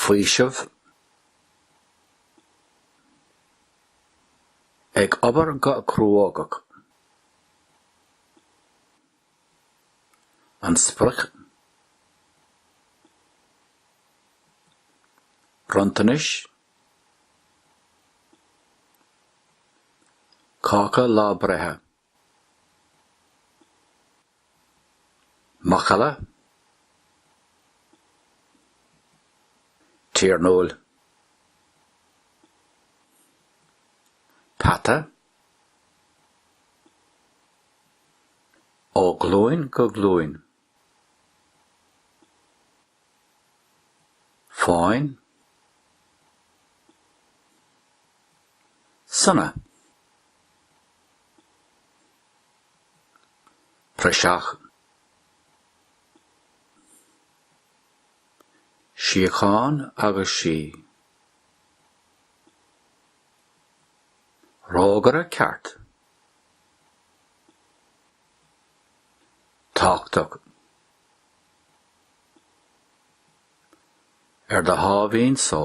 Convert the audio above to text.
faoiseamh, ag obair go cruógach, an sprioc, bronntanais, cáca lá breithe. macalla tiarnúil, peata ó ghlúin go glúin. fáin, sona, praiseach, síocháin agus sí, rógaire ceart. tachtadh ar do sháimhín só.